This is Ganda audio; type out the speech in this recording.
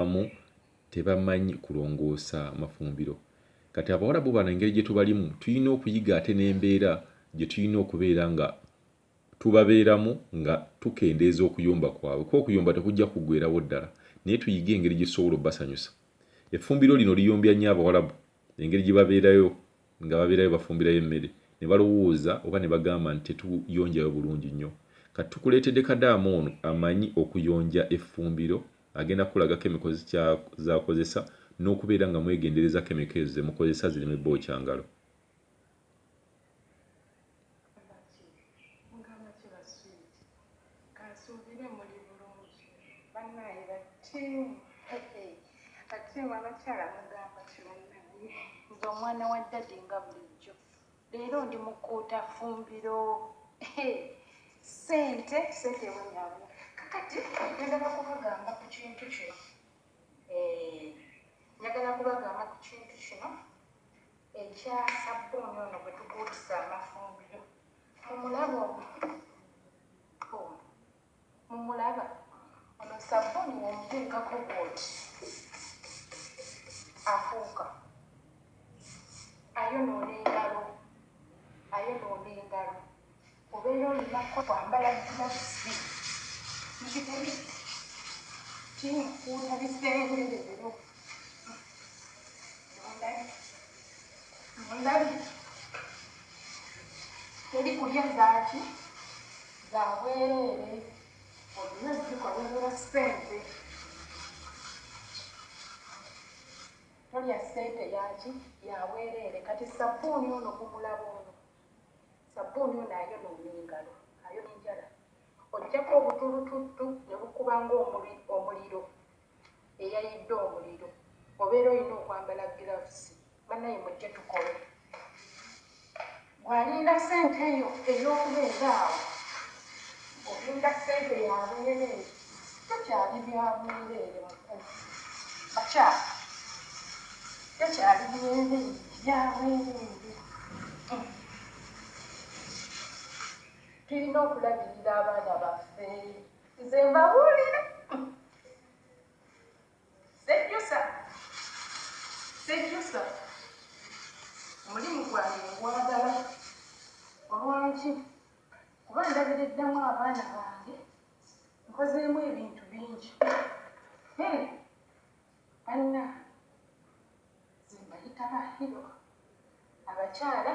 abamu tebamanyi kulongoosa mafumbiro kati abawalabu bano engeri gye tubalimu tulina okuyiga ate n'embeera gye tulina okubeera nga tubabeeramu nga tukendeeza okuyomba kwabwe kuba okuyomba tekujja kuggwerawo ddala naye tuyige engeri gye tusobola obbasanyusa effumbiro lino liyombya nnyo abawalabu engeri gye babeerayo nga babeerayo bafumbirayo emmere ne balowooza oba ne bagamba nti tetuyonjayo bulungi nnyo kati tukuleetedde kadaama ono amanyi okuyonja effumbiro Agenda kukulaga kemiko zakozesa nokubeera nga mwegendereza kemiko ezo zemukozesa zireme bookya ngalo. Leero ndi mukuuta fumbiro sente sente ewenyawo kakati njagala kubagamba ku kintu kino eh, njagala kubagamba ku kintu kino ekya sabbuuni ono gwe tukuutisa amafumbiro mumulabo Mumulaba? Ono ssabbuuni bw'omuteekako bw'oti, afuuka. Ayonoona engalo. Ayonoona engalo. Obeera olina kwambala gilavuzi. Mukitegedde? Kimukuuta bisenge leero. Mundabye? Mundabye? Teri kulya zaaki? za bwereere olina zikolerera sente tolya sente yaki yabwereere kati sabbuuni ono kumulaba ono sabbuuni ono ayonoona engalo ayona enjala ojjako obutulututtu ne bukuba ngaomuliro eyayidde omuliro obeera olina okwambala gilavusi banaye mujje tukole. Gwe alinda sente yo eyokubeera awo olinda sente yabwerere tekyali byabwerere muku bakyala tekyali byerere byabwerere tulina okulabirira abaana baffe nze mbabulire. Sejjusa, sejjusa, omulimu gwange ngwagala. Olwaki? Kuba ndabiriddamu abaana bange, nkozeemu ebintu bingi. Hee, banna, nze mbayita ba hero, abakyala.